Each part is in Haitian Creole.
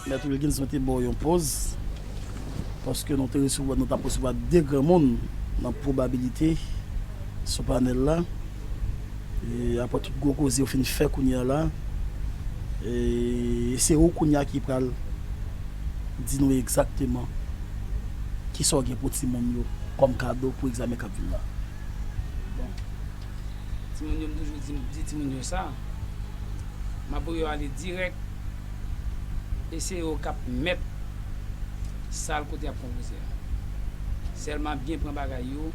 Mèt Wilkinson te ba w yon pòz paske nou te resevwa, nou t ap resevwa 2 granmoun nan pwobabilite sou panèl la. Aprè tout gwo koze yo fin fè kounye a la, se ou kounye a ki pral di nou egzakteman kisa w gen pou timoun yo kòm kado pou egzamen k ap vin la. Timoun yo m toujou di timoun yo sa ma pou yo ale dirèk e se yo kap mèt sal kote yap konpoze a sèlman byen pran bagay yo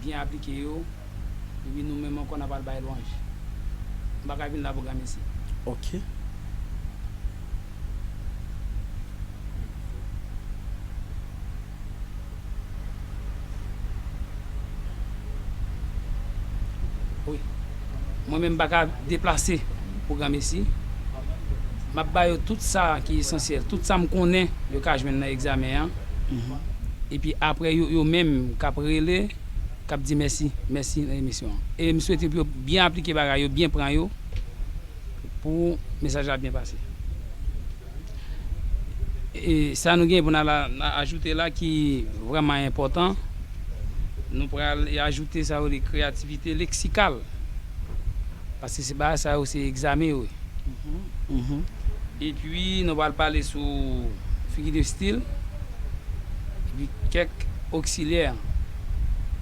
byen aplike yo epi nou menm ankò nap al bay lwanj m paka vin la pou granmesi. Ok. Mwen menm m pa ka deplase pou granmesi. M ap ba yo tout sa ki esansyèl, tout sa m konnen yo ka jwenn nan egzamen an. Epi apre yo menm k ap rele, k ap di mèsi, mèsi nan emisyon an. E m swete pou yo byen aplike bagay yo, byen pran yo pou mesaj la byen pase. Sa nou gen pou nou ajoute la ki vreman enpotan, nou pral ajoute sa yo rele kreyativite leksikal. Paske se bagay sa yo se egzamen yo ye. E pi nou pral pale sou figi de stil, epi kèk oksilyè.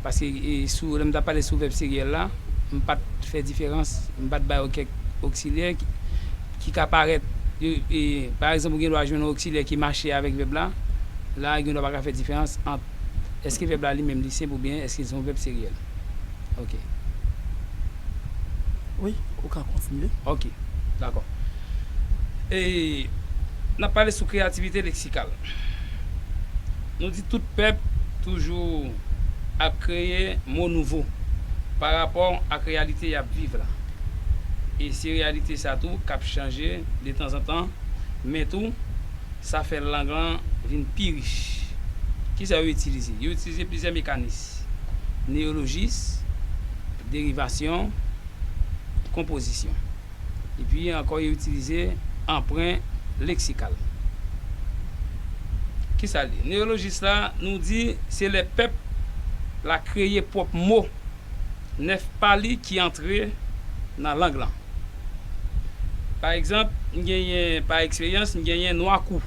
Paske sou lè m t ap pale sou vèb siryèl la, m pa t fè diferans, m pa t ba yo kèk oksilyè. ki ka parèt, pa egzanp ou gen dwa jwenn yon oksilè ki mache avèk vèb la, la a gen dwa pa ka fè diferans ant èske vèb la li menm li senp oubyen èske li se yon vèb seryèl. Ok. Wi, ou ka kontinye. Ok. Dakò. E, n ap pale sou kreyativite leksikal. Nou di tout pèp toujou ap kreye mo nouvo parapò ak reyalite y ap viv la. e se reyalite sa tou k ap chanje detanzantan, men tou, sa fè lang lan vin pi rich. Ki sa yo itilize? Yo itilize plizyè mekanis, neyolojis, derivasyon, konpozisyon. Epi ankò yo itilize anpren leksikal. Ki sa l ye? Neyolojis la, nou di se lè pèp la kreye pwòp mo. 9 pa li ki antre nan lang lan. Pa egzanp, m genyen, pa eksperyans, m genyen nwakou.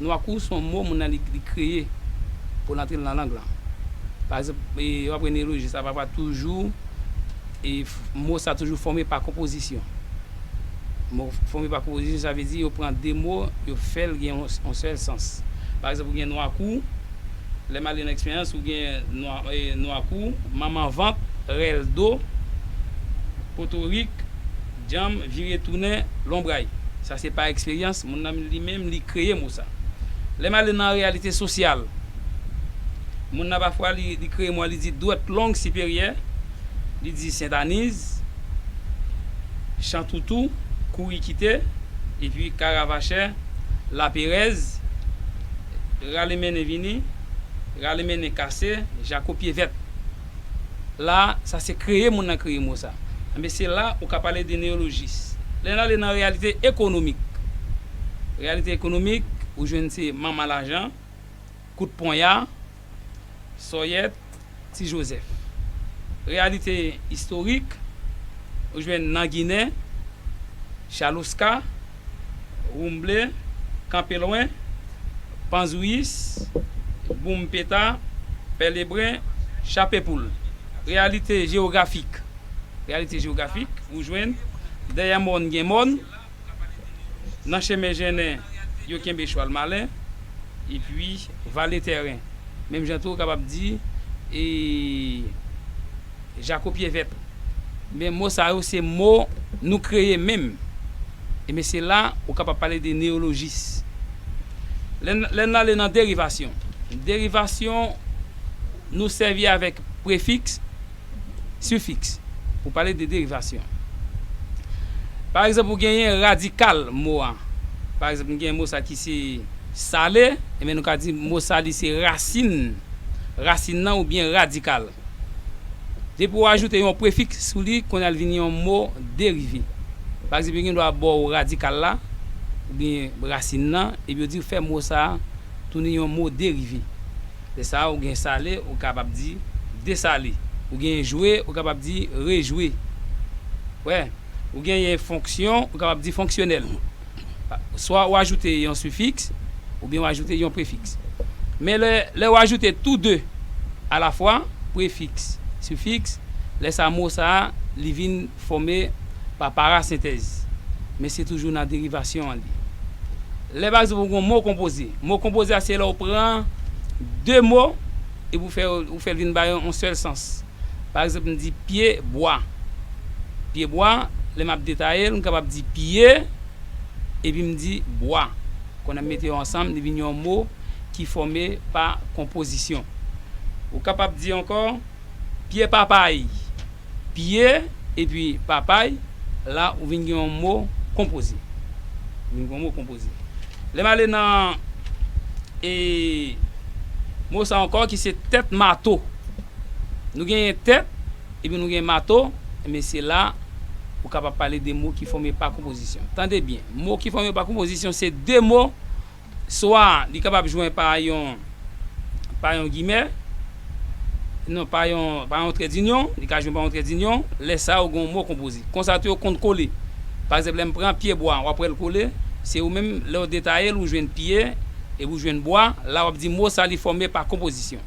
Nwakou se yon mo moun nan li kreye pou l antre l nan lang lan. Pa egzanp, w ap wè neyoloji sa pafwa toujou e mo sa toujou fòme pa konpozisyon. Mo fòme pa konpozisyon sa vle di yo pran de mo yo fè l gen yon sèl sans. Pa egzanp, ou gen nwakou. Lè male nan eksperyans ou gen nwa kou. Manman vant, rèl do, potorik, dyanm, vire tounen, lonbray. Sa se pa eksperyans moun nan li menm li kreye mo sa. Lè male nan reyalite sosyal, moun nan pafwa li kreye mo a li di dwèt long siperyè, li di sentaniz, chantoutou, kouri kite, epi karavachè, laperèz. rale mennen vini, rale mennen kase, jako pye vèt. La, sa se kreye moun nan kreye mo sa. Enben, se la ou ka pale de neyolojis. Lè n ale nan reyalite ekonomik, reyalite ekonomik, ou jwenn se manman lajan, kout ponya, Sòyèt Ti Jozèf. Reyalite istorik, ou jwenn nan Ginen, Chaloska, Woumble, Kanpe Lwen, Panzouyis, Boum Peta, Pè Lebren, Chape Poul. Reyalite jewografik, ou jwenn, Dèyè mòn gen mòn. Nan chemen jennen, yo kenbe chwal malen, epi vale tèren. Menm jan tou ou kapab di, e jako pye vèt. Men mo sa yo se mo nou kreye menm. E men se la ou kapab pale de neyolojis. Lè n ale nan derivasyon, derivasyon nou sèvi avèk prefiks. Sifiks pou pale de derivasyon. Pa egzanp, ou genyen radikal mo a. Pa egzanp, nou genyen mo sa ki se sale, enben nou ka di mo sa li se rasin rasin nan oubyen radikal. Depi ou ajoute yon prefiks sou li, kounye a li vin yon mo derive. Pa egzanp, yo gen dwa ba ou radikal la oubyen rasin nan epi yo di ou fè mo sa tounen yon mo derive. Lè sa a ou gen sale, ou kapab di, desale. Ou genyen jwe, ou kapab di, rejwe. Wè? Ou genyen fonksyon, ou kapab di, fonksyonèl. Swa ou ajoute yon sifiks, oubyen ou ajoute yon prefiks. Men lè, lè ou ajoute tou de alafwa, prefiks, sifiks, lè sa a mo sa a, li vin. Fòme pa parasentèz, men se toujou nan derivasyon an li. Lè pa egzanp ou gen yon mo konpoze, mo konpoze a se lè ou pran de mo epi ou fè ou fè l vin bay yon sèl sans. Pa egzanp m di pye bwa. Pye bwa, lè m ap detaye l, m kapab di pye epi m di bwa. Kounye a m mete yo ansanm, li vin yon mo ki fòme pa konpozisyon. Ou kapab di ankò pye papay. Pye epi papay, la ou vin gen yon mo konpoze. Ou vin gen yon mo konpoze. Lè m ale nan e mo sa ankò ki se tèt mato. Nou genyen tèt epi nou genyen mato, enben se la ou kapab pale de mo ki fòme pa konpozisyon. Tande byen, mo ki fòme pa konpozisyon se de mo Swa li kapab jwen pa yon pa yon gimè, non pa yon pa yon trèdinyon, li ka jwen pa yon trèdinyon, lè sa yo gen yon mo konpoze. Konsa tou yo konn kole. Pa egzanp, lè m pran pyebwa an, w ap wè l kole, se ou menm, lè w detaye l, ou jwenn pye, epi ou jwenn bwa, la w ap di mo sa li fòme pa konpozisyon.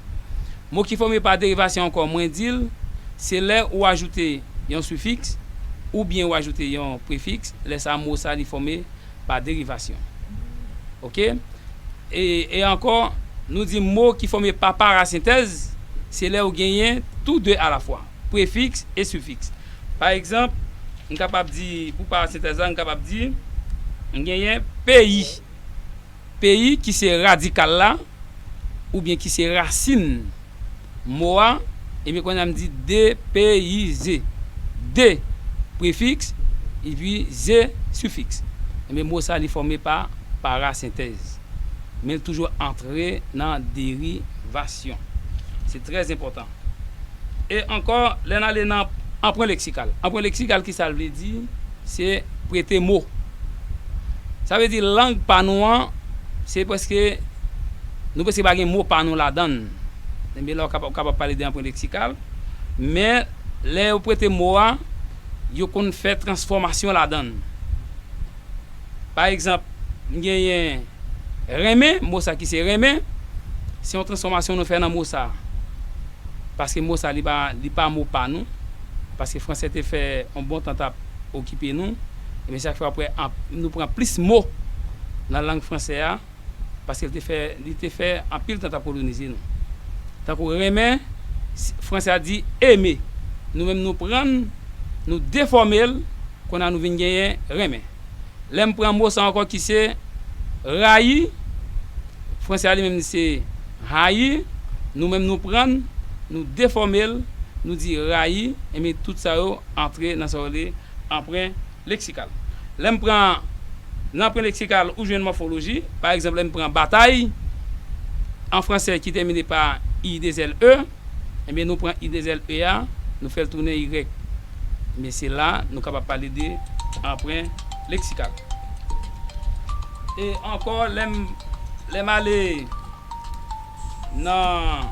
Mo ki fòme pa derivasyon ankò mwen di l, se lè ou ajoute yon sifiks, oubyen ou ajoute yon prefiks, lè sa mo sa li fòme. pa derivasyon. Ok? E, e ankò, nou di mo ki fòme pa parasentèz, se lè ou genyen tou de alafwa, prefiks e sifiks. Pa egzanp, m kapab di, pou parasentèz la, m kapab di, m genyen peyi. Peyi ki se radikal la, oubyen ki se rasin. mo a, epi kounya m di depeyize. De, prefiks, epi ze, sifiks. Ebyen mo sa li fòme pa parasentèz. Men l toujou antre nan derivasyon. Se trè enpòtan. E ankò, lè n ale nan anpren leksikal. Anpren leksikal kisa l vle di? Se prete mo. Sa vle di lang pa nou an, se prèske, nou prèske pa gen mo pa nou ladan l. Ebyen la ou ka kapab pale de anprent leksikal. Men, lè yo prete mo a, yo konn fè transfòmasyon ladan l. Pa egzanp, m genyen renmen, mo sa ki se renmen, se yon transfòmasyon nou fè nan mo sa. Paske mo sa li pa mo pa nou. Paske franse te fè yon bon tan t ap okipe nou, ebyen sa fè wap wè nou pran plis mo nan lang fransè a paske li te fè anpil tan tap kolonize nou. Tankou renmen, fransè a di aimer, nou menm nou prann nou defòme l kounye a nou vin genyen renmen. Lèm pran mo sa ankò ki se rayi, fransè a li menm li se haïr, nou menm nou prann nou defòme l nou di rayi, ebyen tout sa yo. Antre nan sa yo rele anpren leksikal. Lè m pran nan anpren leksikal, ou jwenn mòfoloji. Pa egzanp, lè n pran batay, an franse ki tèmine pa i de zèl e, enben nou pran i de zèl e a, nou fè l tounen irèk. Enben se la nou kapab pale de anpren leksikal. E ankò lè m ale nan.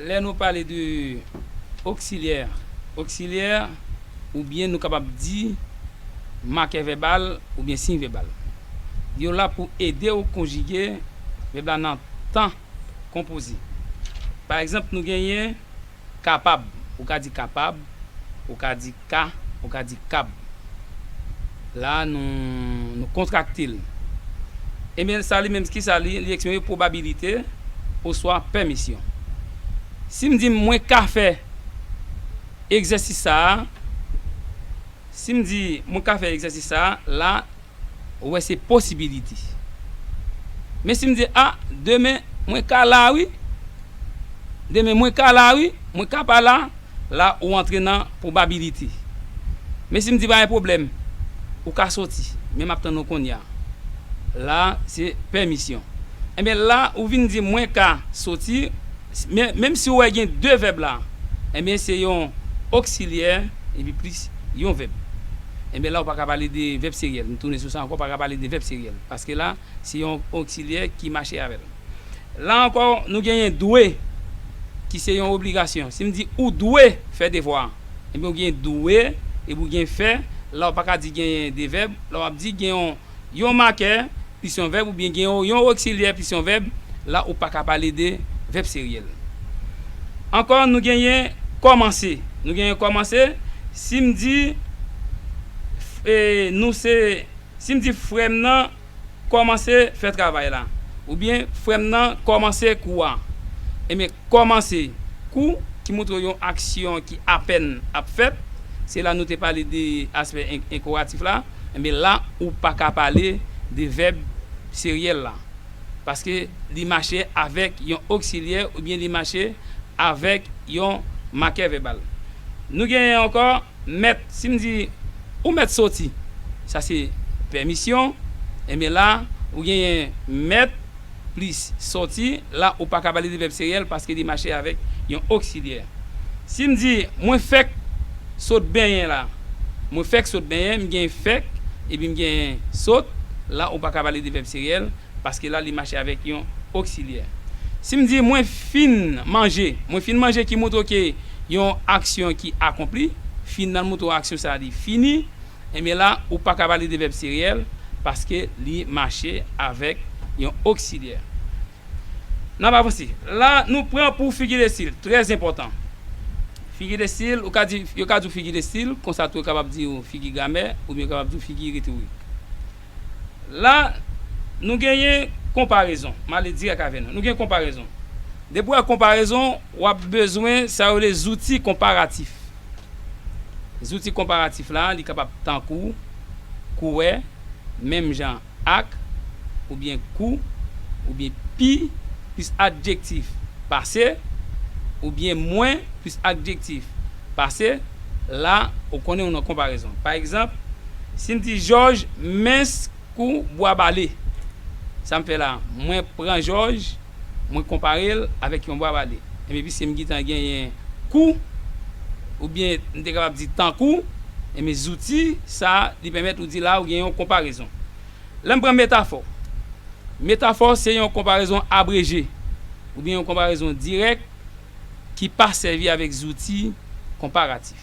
Lè nou pale de oksilyè, oksilyè oubyen nou kapab di makè vèbal oubyen siy vèbal, yo la pou ede ou konjige vèb la nan tan konpoze. Pa egzanp, nou genyen kapab, ou ka di kapab, ou ka di. Ka, ou ka di kab. La a nou, nou kontrakte l. Enben, sa li menm, ki sa li, li eksprime pwobabilite oswa pèmisyon. Si m di, mwen ka fè egzèsis sa a, si m di, mwen ka fè egzèsis sa a, la a. Ou wè se posibilite. Men si m di a, demen mwen ka la wi. Demen mwen ka la wi, mwen ka pa la, la ou antre nan pwobabilite. Men si m di pa gen pwoblèm, ou ka soti, men m ap tann ou konnya. La se pèmisyon. Enben la ou vin di mwen ka soti. Menm si ou wè gen de vèb la, enben se yon oksilyè epi plis yon vèb. Enben la ou pa ka pale de vèb seryèl. M tounen sou sa ankò, ou pa ka pale de vèb seryèl. Paske la, se yon oksilyè ki mache avè l. La ankò, nou genyen dwe ki se yon obligasyon. Si m di ou dwe fè devwa a, enben ou gen dwe epi ou gen fè. La ou pa ka di genyen de vèb. La w ap di gen yon Yon makè plis yon vèb oubyen gen yon yon oksilyè plis yon vèb, la ou pa ka pale de vèb seryèl. Ankò nou genyen kòmanse. Nou genyen kòmanse, si m di e nou se si m di frè m nan kòmanse fè travay la oubyen frè m nan kòmanse kou a. Ebyen kòmanse kou ki montre w yon aksyon ki apèn ap fèt, se la nou te pale de aspè enkoratif la. Enben la ou pa ka pale de vèb seryèl la, paske li mache avèk yon oksilyè oubyen li mache avèk yon makè vèbal. Nou genyen ankò mèt. Si m di, Ou mèt soti. Sa se pèmisyon. Enben la ou genyen mèt. plis. Soti, la ou pa ka pale de vèb seriyèl paske li mache avèk yon oksilyè. Si m di, Mwen fèk sot benyen la. Mwen fèk sot benyen, m genyen fèk epi m genyen sot, la ou pa ka pale de vèb seriyèl paske la li mache avèk yon oksilyè. Si m di, Mwen fin manje. Mwen fin manje ki montre ke yon aksyon ki akonpli. Fin nan montre aksyon sa a li fini. Enben la, ou pa ka pale de vèb siryèl paske li mache avèk yon oksilyè. N ap avanse. La, nou pran pou figi de stil. Trè enpòtan. Figi de stil, ou ka di, yo ka di w figi de stil, konsa tou yo kapab di w figi gramè, oubyen yo kapab di w figi retorik. La, nou genyen konparezon. M ale dirèk avè nou. Nou gen konparezon. Depi w wè konparezon, w ap bezwen sa yo rele zouti konparatif. Zouti konparatif la, li kapab tankou, kouwè, menm jan ak, oubyen kou, oubyen pi, plis adjektif, pase, oubyen mwen, plis adjektif. Pase, la, ou konnen ou nan konparezon. Pa egzanp, si m di Jòj mens kou bwa bale. Sa m fè la a? Mwen pran Jòj, mwen konpare l avèk yon bwa bale. Enben, piske m gentan genyen kou, oubyen m te kapab di tankou, enben zouti sa a, li pèmèt ou di la a ou gen yon konparezon. Lè m pran metafò. Metafò se yon konparezon abreje, oubyen yon konparezon dirèk. ki pa sèvi avèk zouti konparatif.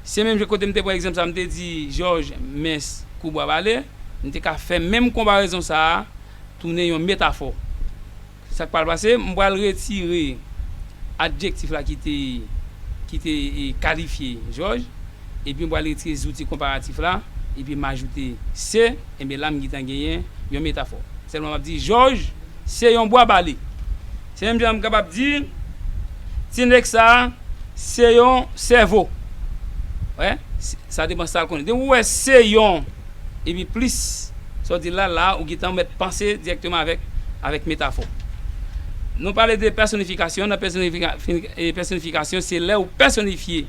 Se menm jan kote m te pran egzanp sa a m te di Jòj mens kou bwa bale, m te ka fè menm konparezon sa a tounen yon metafò. Sa k pral pase, m pral retire adjektif la ki te ki te kalifye Jòj, epi m pral retire zouti konparatif la, epi m ajoute se, enben la m gentan genyen yon metafò. Sèlman m ap di Jòj se yon bwa bale. Se menm jan m kapab di ti nèg sa a se yon sèvo. Wè, sa depan sa l konnen. Depi w wè se yon epi plis sa w di l la, la a ou gentan mèt panse dirèkteman avèk metafò. Nou pale de pèsonifikasyon, nan pèsonifikasyon se lè ou pèsonifye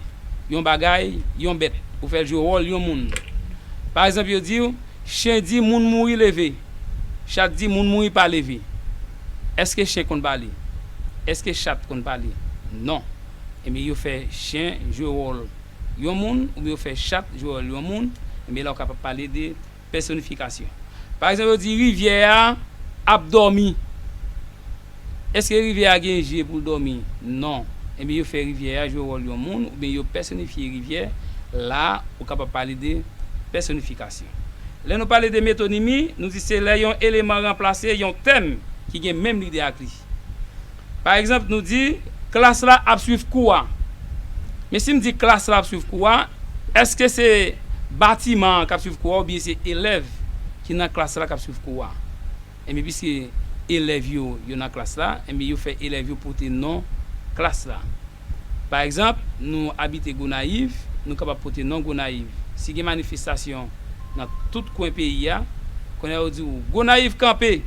yon bagay, yon bèt. Ou fè l jwe wòl yon moun. Pa egzanp yo di w, chen di moun mouri leve, chat di moun mouri pa leve. Èske chen konn pale? Èske chat konn pale? Non. Ebyen yo fè chen jwe wòl yon moun oubyen yo fè chat jwe wòl yon moun, ebyen la ou kapab pale de pèsonifikasyon. Pa egzanp yo di rivyè a ap dòmi. Èske rivyè a gen je pou l dòmi? Non. Ebyen yo fè rivyè a jwe wòl yon moun oubyen yo pèsonifye rivyè, la ou kapab pale de pèsonifikasyon. Lè nou pale de metonimi, nou di se lè yon eleman ranplase yon tèm ki gen menm lide ak li. Pa egzanp, nou di, Klas la ap suiv kou a. Men si m di klas la ap suiv kou a, èske se batiman an k ap suiv kou a oubyen se elèv ki nan klas la k ap suiv kou a? Enben piske elèv yo yo nan klas la, enben yo fè elèv yo pote non klas la. Pa egzanp, nou abite Gonayiv, nou kapab pote non Gonayiv. Si gen manifestasyon nan tout kwen peyi a, kounye a yo di w, Gonayiv kanpe!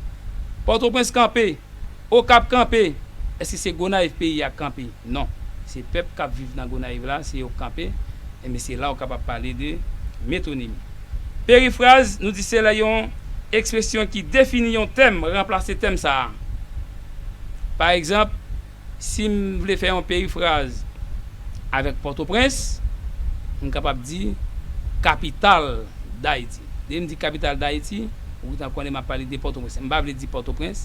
Pòtoprens kanpe! Okap kanpe! Èske se Gonayiv peyi a kanpe? Non. Se pèp k ap viv nan Gonayiv la, se yo k kanpe. Enben, se la Okap ap pale de metonimi. Perifraz, nou di se lè yon ekspresyon ki defini yon tèm ranplase tèm sa a. Pa egzanp, si m vle fè yon perifraz avèk Pòtoprens, m kapab di kapital Dayiti. Depi m di kapital Dayiti, ou gentan konnen m ap pale de Pòtoprens. M pa vle di Pòtoprens.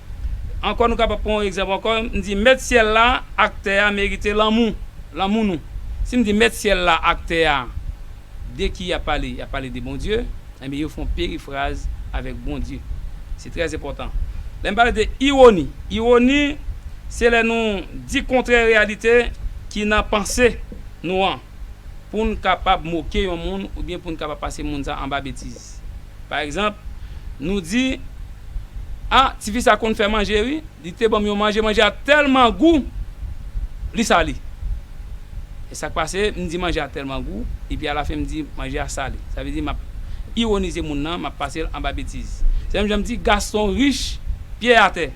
Ankò nou kapab pran yon egzanp ankò, m di mèt syèl la ak tè a merite lanmou, lanmou nou. Si m di mèt syèl la ak tè a de ki y ap pale? Y ap pale de Bondye. Enben yo fè yon perifraz avèk Bondye. Se trè enpòtan. Lè m pale de iwoni, iwoni se lè nou di kontrè reyalite ki nan panse nou an pou n kapab moke yon moun oubyen pou n kapab pase moun sa a anba betiz. Pa egzanp, nou di, A, tifi sa konn fè manje wi, li te ban m yon manje, manje a tèlman gou, li sale. E sa k pase? M di manje a tèlman gou, epi alafen m di manje a sale. Sa vle di m ap iwonize moun nan, m ap pase l anba betiz. Se menm jan m di Gaston rich, Pyè atè.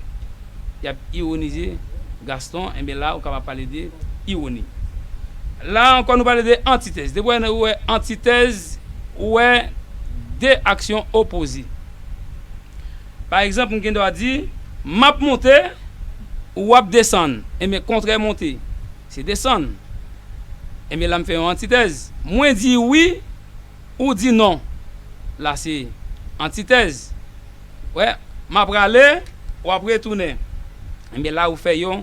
Y ap iwonize Gaston, enben la ou kapab pale de iwoni. La ankò nou pale de antitèz. Depi ou wè antitèz, ou wè de aksyon opoze. Pa egzanp, m gen dwa di, M ap monte, ou w ap desann. Enben, kontrè monte, se desann. Enben, la m fè yon antitèz. Mwen di wi, ou di non. La se antitèz. M ap prale, w ap retounen. Enben, la ou fè yon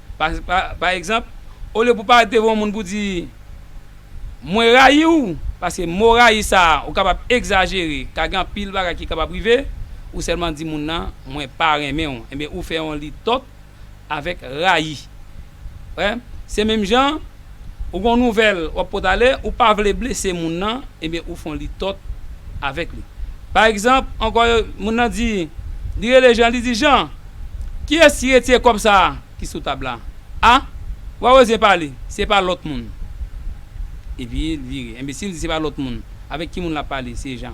Pa egzanp, olye pou w parèt devan yon moun pou w di, Mwen rayi w, paske mo rayi sa a ou kapab egzajere, ka gen anpil bagay ki kapab rive, ou sèlman di moun nan, Mwen pa renmen w. Enben, ou fè yon litòk avèk rayi. Se menm jan. Ou gon nouvel wap pot ale ou pa vle blese moun nan ebyen ou fon li tot avek li pa egzanp anko yo moun nan di li rele Jean li di Jean kiyes ki retire kob sa ki sou tab la a wa wè zin pale se pa lot moun epi li vire enbesil di se pa lot moun avek ki moun lap pale se Jean.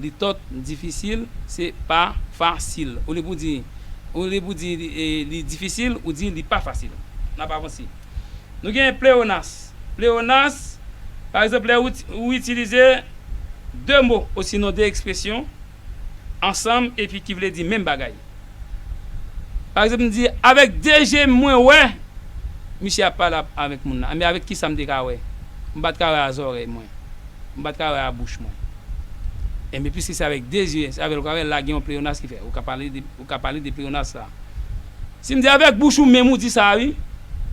Li tot difisil, se pa fasil. Olye pou di, olye pou di li difisil, ou di li pa fasil. N ap avanse. Nou gen pleonas. Pleonas, pa egzanp, lè ou itilize de mo osinon de ekspresyon ansanm epi ki vle di menm bagay. Pa egzanp m di avèk 2 je m mwen wè misye ap pale avèk moun lan. Enben avèk kisa m te ka wè? M pa t ka wè a zòrèy mwen. M pa t ka wè a bouch mwen. Enben piske se avèk 2 je, se avè l ou ka wè. La gen yon pleyonas ki fè. Ou ka pale de, ou ka pale de pleyonas la. Si m di avèk bouch ou menm ou di sa a wi.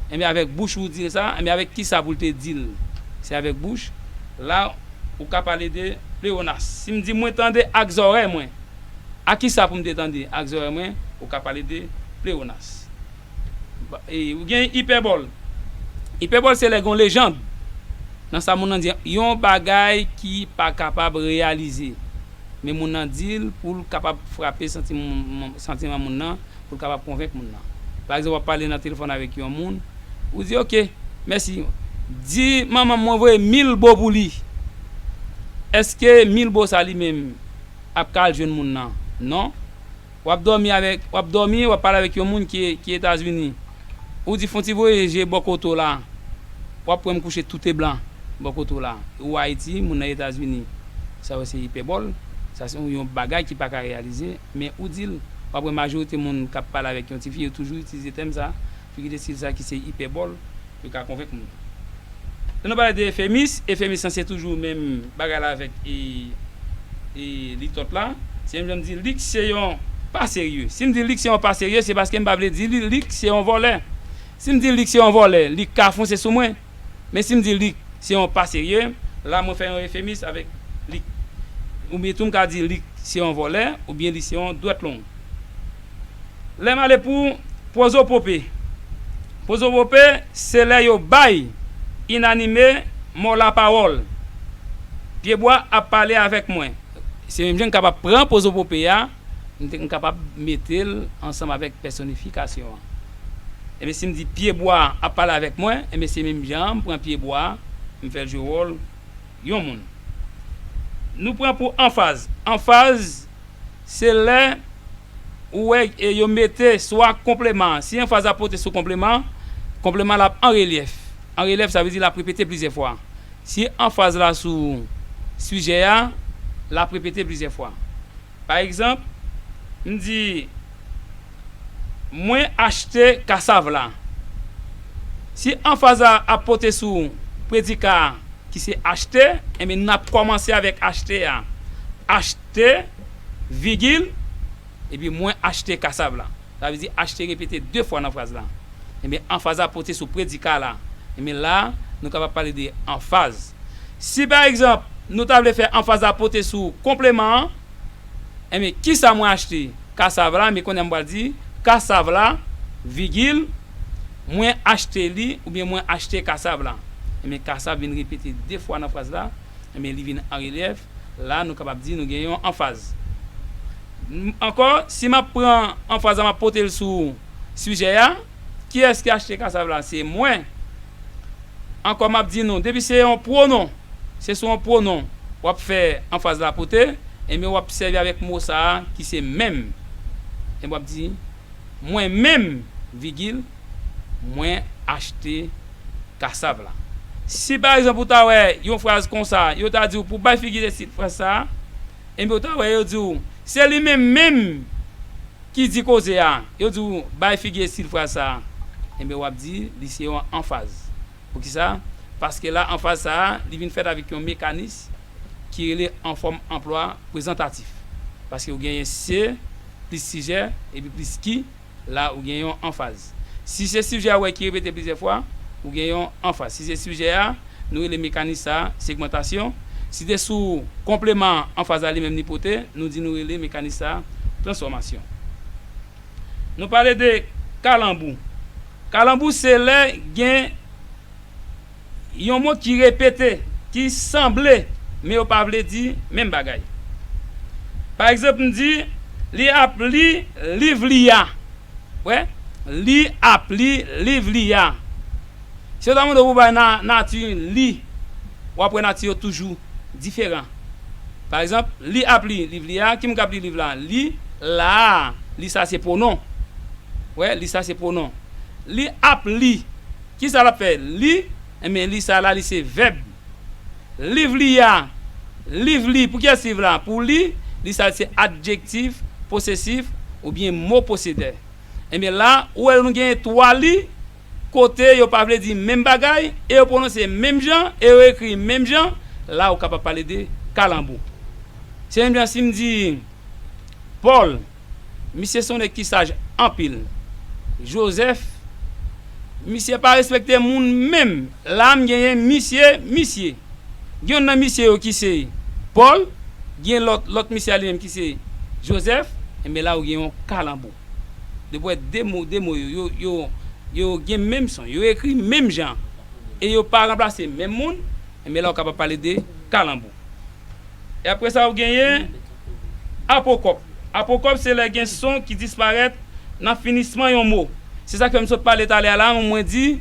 Enben avèk bouch ou ou di l sa a. Enben avèk kisa pou l te di l se avèk bouch? La ou ka pale de pleyonas. Si m di mwen tande ak zòrèy mwen. A kisa pou m te tande ak zòrèy mwen ou ka pale de pleonas? E ou gen ipèbòl. Ipèbòl se lè gen yon lejand nan sa moun nan di an, yon bagay ki pa kapab reyalize, men moun nan di l pou l kapab frape santiman moun nan, pou l kapab konvenk moun nan. Pa egzanp, w ap pale nan telefòn avèk yon moun, ou di ok, mèsi. Di manman m mwen voye mil bo pou li. Èske mil bo sa li menm ap ka al jwenn moun nan non wap dòmi avèk wap dòmi wap pale avèk yon moun ki ki etazini ou di fon ti voye je bò kote w la wap wèm kouche toute blan bò kote w la ou ayiti moun nan etazini sa yo se ipèbòl sa se yon bagay ki paka reyalize men ou dil wap wè majorite moun kap pale avèk yon tifi yo toujou itilize tèm sa Figi de stil sa ki se ipèbòl yo ka konvenk moun. Lè nou pale de efemis, efemis lan se toujou menm bagay la avèk e litòt la. Se menm jan m di lik se yon pa serye. Si m di lik se yon pa serye, se paske m pa vle di li lik se yon vòlè. Si m di lik se yon vòlè, lik ka fonse sou mwen. Men si m di lik se yon pa serye, la mwen fè yon efemis avèk lik. Oubyen tou m ka di lik se yon vòlè oubyen li se yon dwèt long. Lè m ale pou pwozopope. Pwozopope se lè yo bay inanime mò lapawòl. Pyebwa ap pale avèk mwen. Se menm jan m kapab pran pwozopope a, m kapab mete l ansanm avèk pèsonifikasyon an. Enben si m di pyebwa a ap pale avèk mwen, enben se menm jan an m pran pyebwa a, m fè l jwe wòl yon moun. Nou pran pou anfaz. Anfaz se lè ou wè yo mete swa konpleman an. Si anfaz la pote sou konpleman an, konpleman an l ap an relyèf. An relyèf sa vle di l ap repete plizyè fwa. Si anfaz la sou sijè a, l ap repete plizyè fwa. Pa egzanp, m di, Mwen achte kasav la. Si anfaz la ap pote sou predika a ki se achte, enben n ap kòmanse avèk achte a. Achte, vigil, epi mwen achte kasav la. Sa vle di achte repete de fwa nan fraz la. Ebyen anfaz la pote sou predika la. Ebyen la a, nou kapab pale de anfaz. Si pa egzanp, nou ta vle fè anfaz la pote sou konpleman an, Ebyen, ki sa mwen achte? Kasav la, ebyen kounye a m pral di, Kasav la, vigil, mwen achte li oubyen mwen achte kasav la. Ebyen kasav vin repete de fwa nan fraz la, ebyen li vin an relyèf. la nou kapab di nou gen yon anfaz. Ankò, si m ap pran anfaz la m ap pote l sou sijè a, kiyès ki achte kasav la? Se mwen. Ankò m ap di nou, depi se yon pwonon, se sou yon pwonon w ap fè anfaz la pote, enben w ap sèvi avèk mo sa a ki se menm. Enben w ap di, Mwen menm, vigil. mwen achte kasav la. Si pa egzanp ou ta wè yon fraz konsa, yo ta di w pou w bay figi de tit fraz sa a, enben ou ta wè yo di w se li menm menm ki di koze a, yo di w bay figi de tit fraz sa a, enben w ap di li se yon anfaz. Poukisa? Paske la anfaz sa a li vin fèt avèk yon mekanis ki rele anfòm anplwa prezantatif. Paske ou genyen se plis sijè epi plis ki. la ou gen yon anfaz. Si se sijè a ou wè ki repete plizyè fwa, ou gen yon anfaz. Si se sijè a, nou rele mekanis sa a segmantasyon. Si te sou konpleman an, anfaz la li menm li pote, nou di nou rele mekanis sa a transfòmasyon. Nou pale de kalanbou. Kalanbou se lè gen. Yon mo ki repete, ki sanble, men yo pa vle di menm bagay. Pa egzanp, m di, Li ap li liv li a. Ou wè? Li ap li liv li a. Si yo ta mande w pou w bay nati li, w ap wè nati yo toujou diferan. Pa egzanp, Li ap li liv li a. Ki moun k ap li liv la? Li, la a. Li sa a se pwonon. Ou wè? Li sa a se pwonon. Li ap li Ki sa l ap fè? Li. Enben, li sa a la, li se vèb. Liv li a. Liv li. Pou kiyès liv la? Pou li. Li sa a se adjektif posesif oubyen mo posedè. Enben la, ou wè nou genyen twa li kote yo pa vle di menm bagay e yo pwononse menm jan e yo ekri menm jan. La ou kapab pale de kalanbou. Se menm jan si m di Pòl. Misye son nèg ki saj anpil. Joseph, Misye pa respekte moun menm. La m genyen misye, misye. Gen youn nan misye yo ki se Paul, gen lòt, lòt misye a li menm ki se Joseph. Enben la ou gen yon kalanbo. Depi w wè de mo, de mo yo, yo, yo gen menm son. Yo ekri menm jan. E yo pa ranplase menm moun. Enben la ou kapab pale de kalanbo. E apre sa ou genyen. Apokòp Apokòp se lè gen son ki disparèt nan finisman yon mo. Se sa k fè m sot pale talè a la, mwen di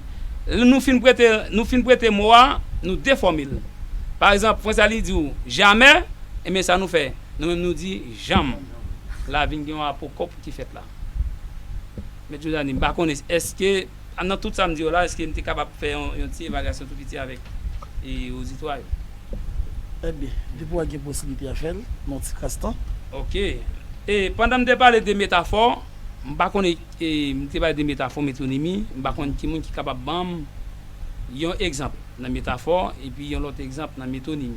lè nou fin prete nou fin prete mo a, nou defòme l. Pa egzanp, Frantz Aly di ou jamè, enben sa nou fè? Nou menm nou di janm. La vin gen yon apokòp ki fèt la. Mèt Jozani, m pa konnen èske. Nan tout sa m di yo la, eske m te kapab fè yon ti evalyasyon tou piti avèk ozitwa yo? Enben, depi w a gen posiblite a fè l nan yon tikras tan. Ok. E, pandan m te pale de metafò, m pa konn e, e, m te pale de metafò, metonimi, m pa konn ki moun ki kapab ban m yon egzanp nan metafò epi yon lòt egzanp nan metonimi.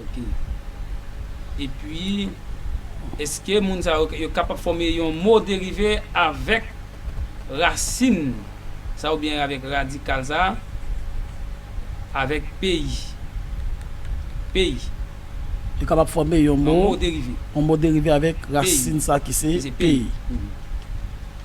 Ok. Epi, èske moun sa yo, yo kapab fòme yon mo derive avèk rasin sa oubyen avèk radikal sa a? Avèk peyi. Peyi. Yo kapab fòme yon mo. Yon mo derive. Yon mo derive avèk rasin sa ki se peyi. Ki se peyi.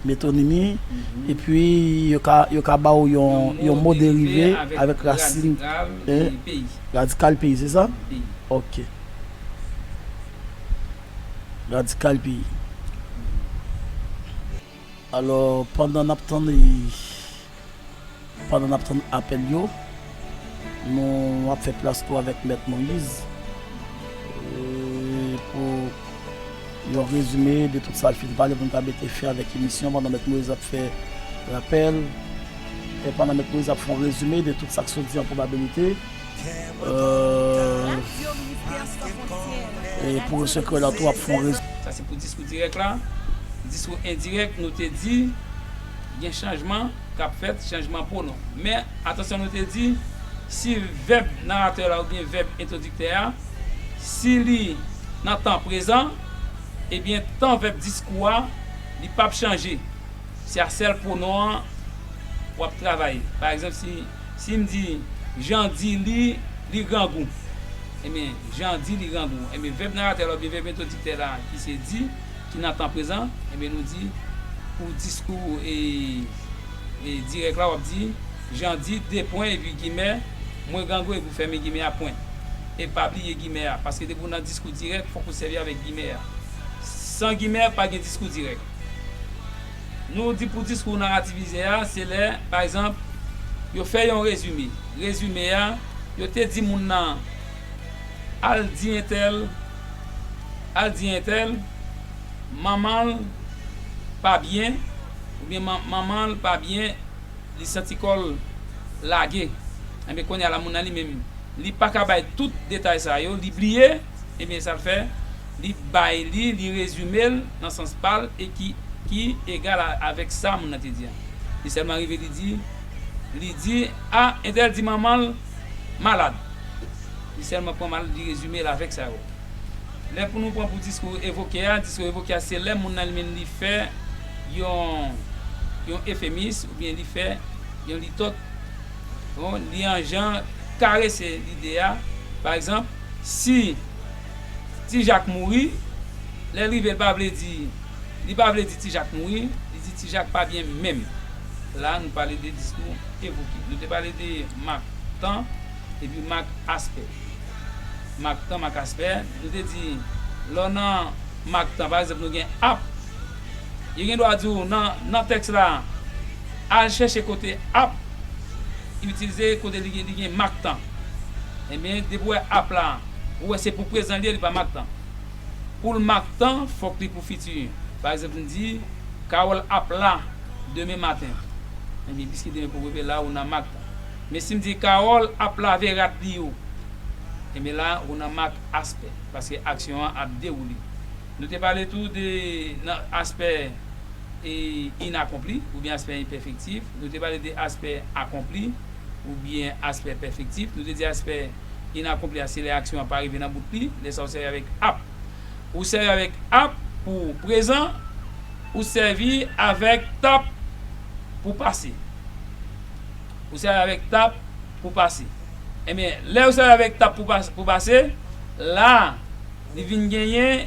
Metonimi, epi yo ka ba ou yon mo derive avèk rasin e. Radikal peyi, se sa? Ok. Radikal peyi. Alò, pandan n ap tann li. Pandan n ap tann apèl yo, nou ap fè plas tou avèk Mèt Moïse pou yon rezime de tout sa l fin pale pou n ka mete fen avèk emisyon pandan Mèt Moïse ap fè rapèl e pandan Mèt Moïse ap fè yon rezime de tout sa k sot di an pwobabilite e pou Sekrè la tou ap fè yon rezime. Sa se pou diskou dirèk la. Diskou endirèk, nou te di. Gen chanjman k ap fèt, chanjman pwonon. Men, atansyon nou te di, si vèb naratè la oubyen vèb entwodiktè a, si li nan tan prezan, ebyen tan vèb diskou a, li p ap chanje. Se a sèl pwonon an w ap travay. Pa egzanp, si, si m di, Jan di li, li grangou. Ebyen, Jan di li grangou. Ebyen, vèb naratè la oubyen vèb entwodiktè la, ki se di. ki nan tan prezan, enben nou di pou diskou dirèk la w ap di, Jan di, de pwen epi gimè, mwen grangou epi w fèmen gimè a pwen. E pa bliye gimè a, paske depi w nan diskou dirèk fòk ou sèvi avèk gimè a. San gimè, pa gen diskou dirèk. Nou di pou diskou narativize a, se lè, pa egzanp, yo fè yon rezime. Rezime a, yo te di moun nan. Al di entèl Al di entèl Manman l pa byen oubyen Manman l pa byen li santi kò l lage Ebyen kounye a la moun nan li menm li pa ka bay tout detay sa yo li bliye Ebyen sa l fè li bay li li rezime l nan sans pa l e ki ki egal avèk sa moun nan te di an Li sèlman rive li di li di a entèl di manman l Malad. Li sèlman pran mal li rezime l avèk sa yo. Lè pou nou pran pou diskou evoke a, diskou evoke a se lè moun nan li menm li fè yon yon efemis oubyen li fè yon litòt yon li an jan karese lide a. Pa egzanp, si Ti Jak mouri, lè l rive l pa vle di li pa vle di Ti Jak mouri, li di Ti Jak pa byen menm. La a nou pale de diskou evoke. Nou te pale de mak tan epi mak aspè. Mak tan, mak aspè, nou te di lè w nan mak tan, pa egzanp nou gen ap, yo gen dwa di w nan tèks la al chèche kote ap itilize kote li gen mak tan. Enben depi w wè ap la, ou wè se pou prezan li ye, li pa mak tan. Pou l mak tan, fòk li pou fiti. Pa egzanp, n di, Kawòl ap la demen maten. Ebyen, piske demen poko rive la, ou nan mak tan. Men si m di, Kawòl ap lave rad li yo. Ebyen la, ou nan mak aspè. Paske aksyon an ap dewoule. Nou te pale tou de nan aspè inakonpli oubyen aspè enpèfektif. Nou te pale de aspè akonpli oubyen aspè pèfektif. Nou te di aspè. inakonpli a se lè aksyon an pa rive nan bout li, lè sa ou sèvi avèk ap. Ou sèvi avèk ap pou prezan, ou sèvi avèk tap pou pase. Ou sèvi avèk tap pou pase. Enben, lè ou sèvi avèk tap pou pase, la. Li vin genyen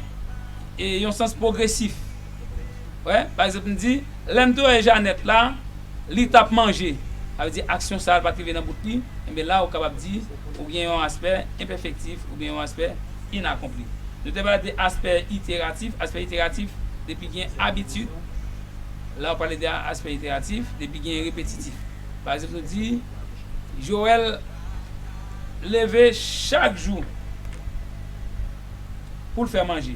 yon sans pwogresif. Wè, pa egzanp, m di, Lè m te wè Janèt la, li t ap manje. Sa vle di aksyon sa a pa t rive nan bout li. Enben la, ou kapab di ou gen yon aspè enpèfektif oubyen yon aspè inakonpli. Nou te pale de aspè iteratif. Aspè iteratif, depi gen abitid. La ou pale de aspè iteratif, depi gen repetitif. Pa egzanp, nou di, Joel leve chak jou poul fè manje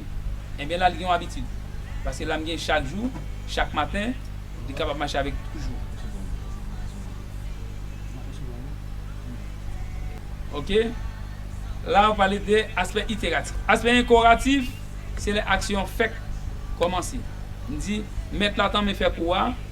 enben lal gen yon abitid paske lam gen chak jou chak maten li kapab mache avèk toujou ok la yo pale de aspè iteratif aspè enkoratif se lè aksyon fèk kòmanse mdi mèt la tanmen fè kou a.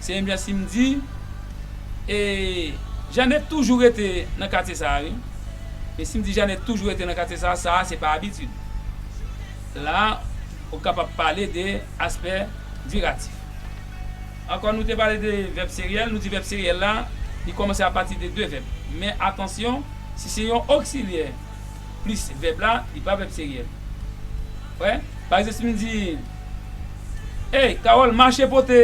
Se menm jan si m di e Jane toujou rete nan katye sa a wi. E si m di Jane toujou rete nan katye sa a, sa a se pa abitid. La a, ou kapab pale de aspè diratif. Ankò nou te pale de vèb seryèl, nou di vèb seryèl la, li kòmanse apati de de vèb. Men atansyon, si se yon oksilyè. plis vèb la, li pa vèb seryèl. Wè? Pa egzanp, si m di, Ey, Kawòl, mache pote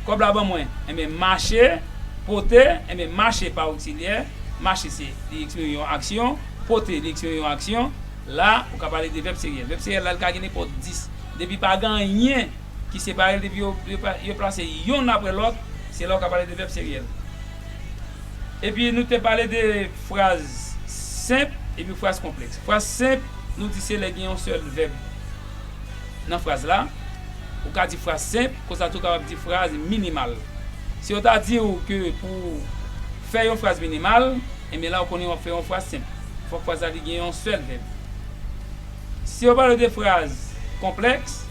kòb la ban mwen. Enben, mache, pote, enben, mache pa oksilyè. Mache se, li eksprime yon aksyon. Pote, li eksprime yon aksyon. La, ou ka pale de vèb seryèl. Vèb seryèl la, li ka gen nenpòt dis. Depi pa gen anyen ki separe l, depi yo plase yonn apre lòt, se la ou ka pale de vèb seryèl. Epi nou te pale de. Fraz senp epi fraz konplèks. Fraz senp, nou di se lè gen yon sèl vèb nan fraz la. Ou ka di fraz senp, konsa tou kapab di fraz minimal. Si yo ta di ou ke pou ou fè yon fraz minimal, enben la ou konnen wap fè yon fraz senp. Fòk fraz la li gen yon sèl vèb. Si yo pale de fraz konplèks,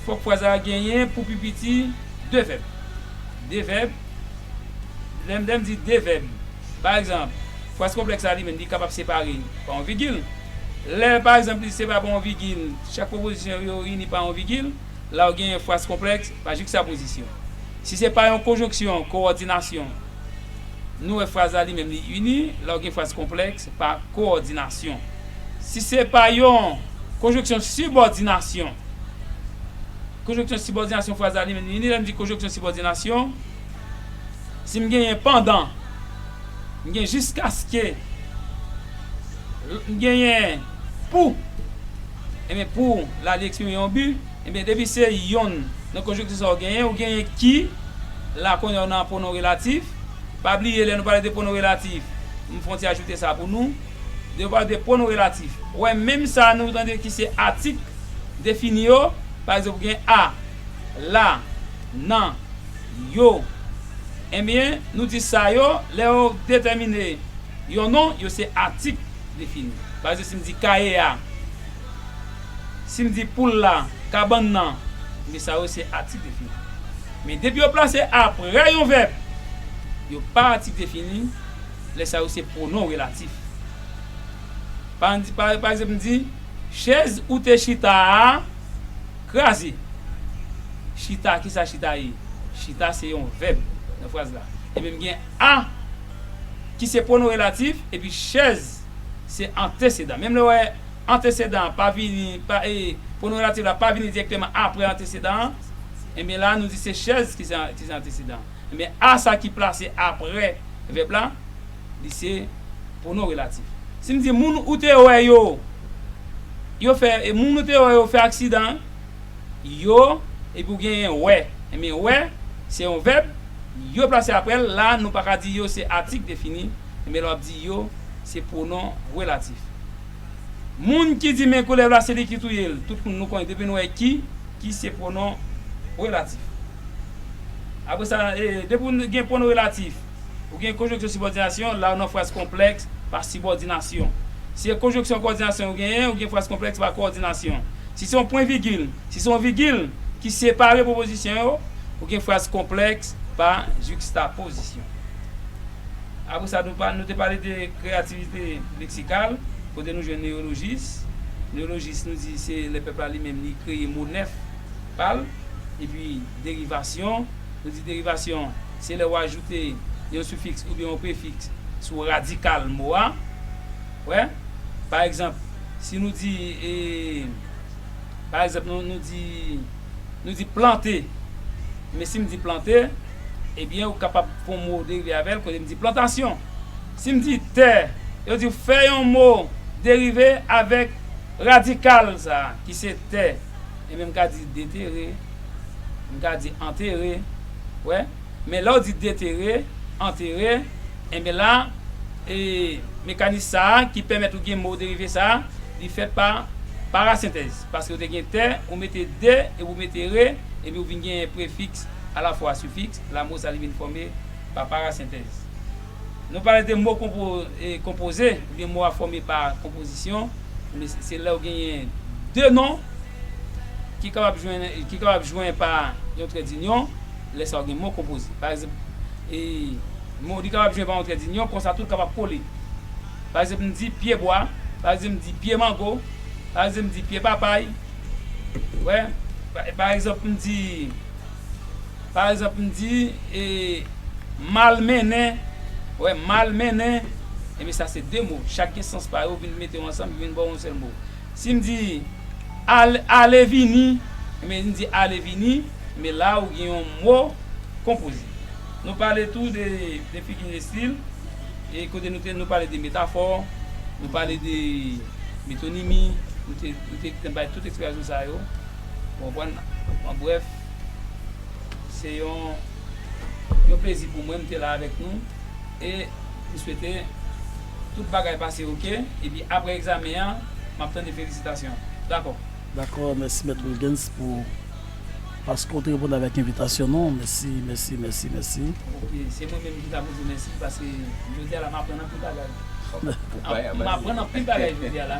fòk fraz la genyen pou pi piti 2 vèb. De vèb, Lè m lè m di de vèb, pa egzanp, fraz konplèks la li menm li kapab separe pa yon vigil. Lè, pa egzanp, li separe pa yon vigil, chak pwopozisyon yo ini pa yon vigil, la ou genyen fraz konplèks pa jikstapozisyon. Si se pa yon konjonksyon kowòdinasyon, nou wè fraz la li menm li ini, la ou gen fraz konplèks pa kowòdinasyon. Si se pa yon konjonksyon sibòdinasyon, Konjonksyon sibòdinasyon fraz la li menm li vini lè n di konjonksyon sibòdinasyon si m genyen pandan m gen jiskaske m genyen pou enben pou la li eksprime yon bi enben depi se yonn nan konjonksyon sa ou genyen ou genyen ki la kounye a ou nan pwonon relatif pa bliye lè nou pale de pwonon relatif m fon ti ajoute sa pou nou. Devwa de pwonon relatif. Wè menm sa nou tande ki se atik defini yo, pa egzanp ou gen a, la, nan, yo. Enben, nou di sa yo, lè yo detèmine yon non, yo se atik defini. Pa egzanp, si m di kaye a, si m di poul la, kabann nan, enben sa yo se atik defini. Men depi yo plase aprè yon vèb, yo pa atik defini. Lè sa yo se pwonon relatif. Pa an di, pa egzanp m di, Chèz ou te chita a kraze. Chita, ki sa chita ye? Chita se yon vèb nan fraz la. Ebyen m gen a ki se pwonon relatif epi chèz se antesedan. Menm lè w wè antesedan an pa vini, pa e, pwonon relatif la pa vini dirèkteman aprè antesedan an, ebyen la a nou di se chèz ki se antesedan. Enben, a sa ki plase apre vèb la, li se pwonon relatif. Si m di, Moun ou te wè yo, yo fè, e moun ou te wè yo fè aksidan an, yo, epi ou genyen wè. Enben, wè, se yon vèb, yo plase apre l. La a, nou pa ka di yo se atik defini. Enben, lè w ap di yo, se pwonon relatif. Moun ki di men koulèv la se li ki touye l, tout moun nou konnen, depi nou wè ki, ki se pwonon relatif. Apre sa, depi ou gen pwonon relatif, ou gen konjonksyon sibòdinasyon, la ou nan fraz konplèks pa sibòdinasyon. Si se konjonksyon kòdinasyon ou genyen, ou gen fraz konplèks pa kòdinasyon. Si se yon pwen vigil, si se yon vigil ki separe pwopozisyon yo, ou gen fraz konplèks pa jikstapozisyon. Apre sa, nou te pale de kreyativite leksikal, kote nou jwenn neyolojis. Neyolojis nou di se lè pèp la li menm li kreye mo nèf. pa l. Epi derivasyon, nou di derivasyon se lè ou ajoute yon sifiks oubyen yon prefiks sou radikal mo a. Wè, pa egzanp, si nou di, pa egzanp, nou di, nou di plante, men si m di plante, ebyen ou kapab pran mo derive avè l kote m di plantasyon. Si m di tè, yo di fè yon mo derive avèk radikal sa a ki se tè. Enben m ka di detere, m ka di antere, wè. Men lè w di detere, antere, enben la, e mekanis sa a ki pèmèt ou gen mo derive sa a, li fèt pa parasentèz. Paske ou te gen te, ou mete de epi ou mete re, epi ou vin gen prefiks alafwa sifiks, la mo sa li vin fòme pa parasentèz. Nou pale de mo konpoze, oubyen mo a fòme pa konpozisyon, se lè ou genyen de non ki kapab jwenn pa yon trèdinyon, lè sa ou gen mo konpoze. Pa egzanp, li kapab jwenn pa yon trèdinyon, kon sa tou li kapab kole. Pa egzanp, m di pye bwa, pa egzanp, m di pye mango, pa egzanp, m di pye papay, ou wè, pa egzanp, m di. Pa ezanp m di, e, mal mennen, wè, mal mennen, enben sa se de mo, chak gen sans pa yo, ou vin mete yo ansanm, yo vin ba w yon sèl mo. Si m di, al, ale vini, enben m di ale vini, enben la a ou gen yon mo konpoze. Nou pale tou de, de figi de stil, e kote nou te, nou pale de metafò, nou pale de metonimi, nou te, nou te bay tout eksplikayon sa yo, ou konprann? An brèf. Se yon yon plezi pou mwen m te la avèk nou e m swete tout bagay pase ok epi aprè egzamen an m ap tande felisitasyon an. Dakò? Dakò, mèsi mèt Wilguens pou paske w te reponn avèk envitasyon nou. Mèsi, mèsi, mèsi, mèsi. Ok, se mwen menm ki ta pou di w mèsi paske jodi a la m aprann anpil bagay. M aprann anpil bagay jodi a la.